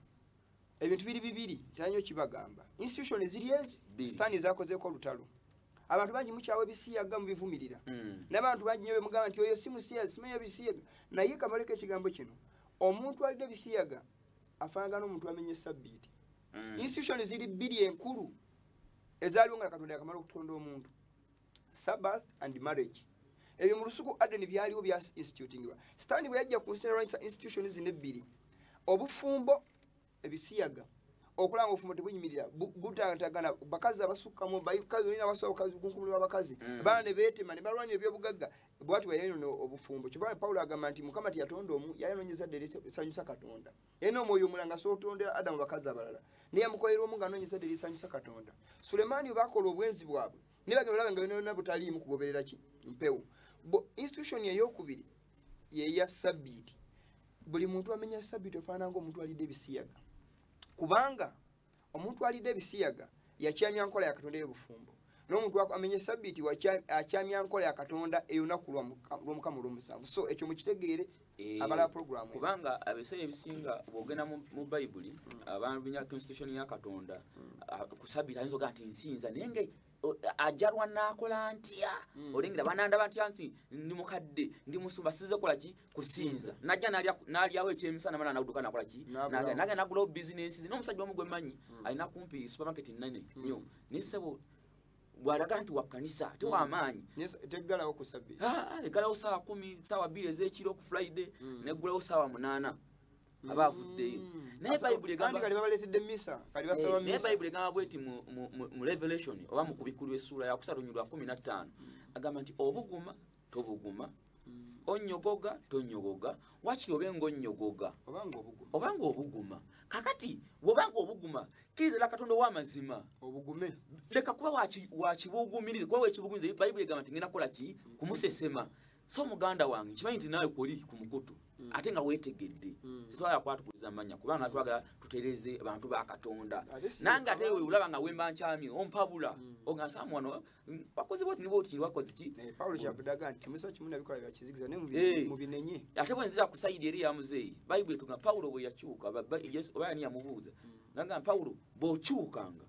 Speaker 1: ebintu biri bibiri teranyo kibagamba institution ziri ezi sitani zakozeko olutalo abantu bangi mukyawa ebisiyaga mubivumirira hmm. nabantu bangi nyo bemugamba nti oyo simusiyaga simanyo ebisiyaga naye kamaleko ekigambo kino omuntu alina ebisiyaga afanagana omuntu amenya esabbiiti hmm. institution ziri bbiri enkulu ezaliwo nga katonda yakamala okutonda omuntu sabbath and marriage ebyo mu lusuku adeni byaliwo bya institutingibwa sitaani bwe yajja ku nsi nalwanyisa institution zino ebbiri obufumbo ebisiyaga okulaba nga obufumbo tebunyimirira butantagana bakazi abasukkamu bayiabasabakunkumulira abakazi mm. baana ne beetema ne balwanya ebyobugagga bwati bwe yayonona obufumbo kyova pawulo agamba nti mukama teyatonda omu yayononyeza ddala esanyusa katonda era n'omwoyo omulanga asobola okutondera adamu bakazi abalala naye amukolera omu ng'anoonyeza dde erisanyusa katonda sulemaani bwe bakola obwenzi bwabwe naye bagenda olaba nga byonayona butaliimu kugoberera ki mpewo institution eyokubiri yeya sabbiiti buli muntu amenya sabbiiti ofaanana ngaomuntu alidde ebisiyaga kubanga omuntu alidde ebisiyaga yakyamya nkola ya katonda ey'obufumbo n'omuntu amenye sabiti akyamya nkola ya katonda eyolunaku lw'omukama olw'omusanvu so ekyo mukitegeere eh, abala program kubanga abeseera
Speaker 2: ebisinga bwogenda mu bayibuli mm. abantu binya constitution ya katonda mm. ku sabiti ayinza oga nti nsinza naye nga ajalwa nakola ntya mm. olengera banandaba ntya nti ndi mukadde ndi musumba size kola ki kusinza mm. najja nalya nalyawo ekyemisana mala naguduka nakola ki naga naga nagula business no musajja omu gwe manyi mm. alina kumpi supermarket nene mm. nyo nisebo bwalaga nti wakanisa te wamaanyi mm. tegalawo kusabbi
Speaker 1: egalawo sawa kumi
Speaker 2: sawa biri ezekiro ku friday mm. negulawo sawa munana aba avuddeyo mm.
Speaker 1: naye bayibuli egamba bweti
Speaker 2: mu revelation oba mu kubikulwa essuula yakusatu nyu lwa kumi na ttaano agamba nti obuguma tobuguma mm. onyogoga tonyogoga wakiri obe nga onyogoga oba nga obuguma kakati wobanga obuguma kiriza la katonda owamazima obugume
Speaker 1: leka kuba
Speaker 2: wakibugumiriza kuba wekibugumiriza bayibuli egamba nti ngenda kukola ki kumusesema so muganda wange nkimanyi nti naawe kuli ku mukutu mm. ate nga weetegedde mm. tetwagala kwatukuliza amanya kubanga mm. twagala tutereze bantu ba katonda nange ate we olaba nga wemba nkyami ompabula mm. ogansaamu wano mm, wakoze bwoti nibwoti wakoze ki eh, paulo kyakudaga nti
Speaker 1: musa kimu nabikola byakizikiza ne eh. mubinenye ate bwe nzira kusayidi
Speaker 2: eri ya muzeeyi bayibuli etuga paulo bwe yakyuka oba yani yamubuuza mm. nagamba paulo bw'okyukanga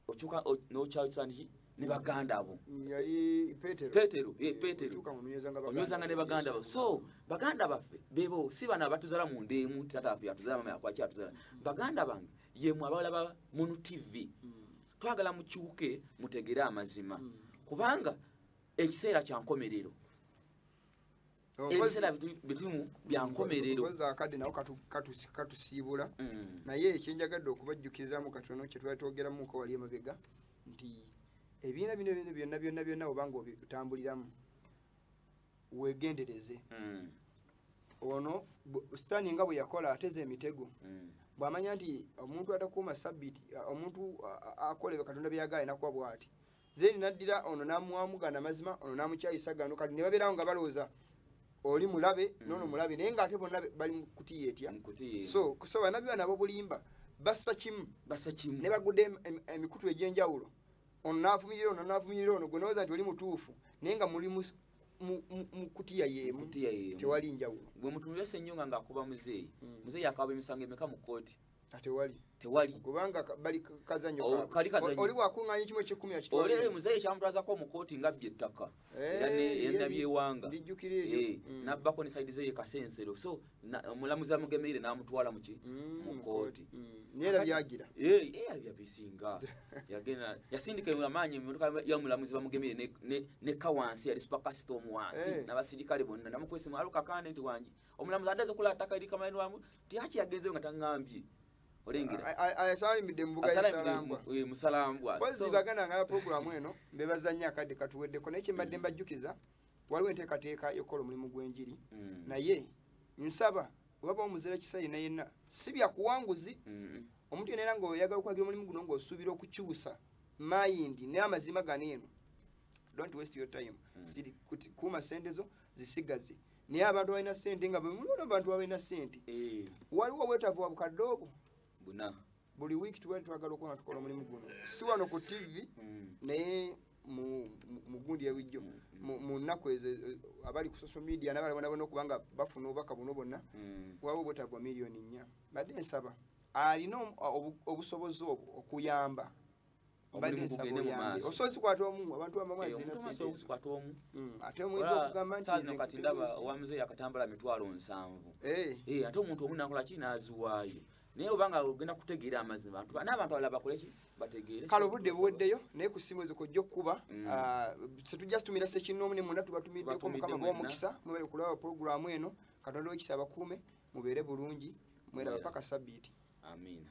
Speaker 2: okyuka nokyawusaniki ne baganda abo
Speaker 1: petero
Speaker 2: petero onywezanga ne baganda abo so baganda baffe bebo si bana abatuzala mu ndeemu tata afe atuzala mama yakwaki atuzala baganda bange yemwe abalaba munu tv mm. twagala mukyuke mutegere amazima mm. kubanga ekiseera kyankomerero ebiseera bitumu byankomerero akadde nawo
Speaker 1: katusiibula mm. naye ekyenjagadde okubajjukizaamu katono kyetwali twogeramuko wali emabega nti ebiina bino bino byonna byonna byonna obanga otambuliramu wegendereze mm. ono sitaani nga bwe yakola ateza emitego mm. bw'amanya nti omuntu atakuuma sabbiti omuntu akolebe katonda byeyagaala enakuba bw'ati then naddira ono namuwamu gana mazima ono namukyayisa gano kati nebabeerawo nga balowooza oli mulabe mm. nono mulabe naye nga ate bonna bali mukutiya etya so kusoba nabyo bana bobulimba bassa kimu bassa kimu ne bagudde emikutu egy'enjawulo ono naavumirira ono naavumirira ono gwe nowooza nti oli mutuufu naye nga muli mukutiya yemu tewali
Speaker 2: njawulo gwe mutumirese ennyo
Speaker 1: nga
Speaker 2: ngaakuba muzeeyi mm. muzeeyi akaba emisango emeka mu kkooti atewali ah, tewali kubanga bali
Speaker 1: kazanyo oh, kali kazanyo oli
Speaker 2: wakunganya kimwe kikumi
Speaker 1: akitwa ole muzaye kyamtwaza ko
Speaker 2: mu koti ngabye ttaka eh, yani yenda bye wanga dijukire ejo eh, mm. nabako ni side zeye kasensero so mulamuza mugemeire na mutwala muki mm, mu koti mm. nera byagira
Speaker 1: eh eh bya bisinga
Speaker 2: yagena yasindika mu manyi mu ka ya mulamuzi bamugemeire ne ne, ne kawansi ya spaka storm wansi eh. na basirikale bonna namukwese mu aluka kane ndi wangi omulamuzi adaze kula ataka iri kama eno tyaki yagezeyo nga taŋambye
Speaker 1: olengeremusalambwaagana
Speaker 2: ngala
Speaker 1: puroguramu eno mbebazanyo akadde katuweddeko naye kyembadde mm. mbajjukiza waliwo enteekateeka yokukola omulimu gw'enjiri mm. naye nsaba webaba omuzira kisa yena yenna si byakuwanguzi mm. omuntu yena era ngaoyagala okwagira omulimu guno ngaosuubira okukyusa mayindi naye amazima gano eno don't waste your time mm. siri kuuma sente zo zisigaze naye abantu balina sente nga bemulona abantu balina sente eh. waliwo obwetavu wabukadde obwo buna
Speaker 2: buli wiiki tubali
Speaker 1: twagala okuba nga tukola omulimu guno si wano ku tivi mm. naye mugundi yawijjo mm. mu nnaku ezo eh, abali ku social media nabala bona bona okubanga bafuna obubaka buno bonna mm. waliwo obwetavu wa miliyoni nnya badde nsaba alina obusobozi obwo okuyamba osozikwata omu abantu bamamwazikwata omu ate omuyinza okugamba nti kati ndaba owamuze
Speaker 2: yakatambala mitwalo nsanvu ate omuntu omu nakola ki naziwaayo naye obanga ogenda kutegeera amazima n'abantu abala bakoleki bategeere kale obudde buweddeyo
Speaker 1: naye ku simu ezo kojja okukuba mm. ah, setujja situmira sekinnoomu ne mwonna tubatumiddeko mukama bwomukisa mwebale kulaba pulogulaamu eno katonda wekisa abakuume mubeere bulungi
Speaker 2: mweraba
Speaker 1: paka sabbiiti amiina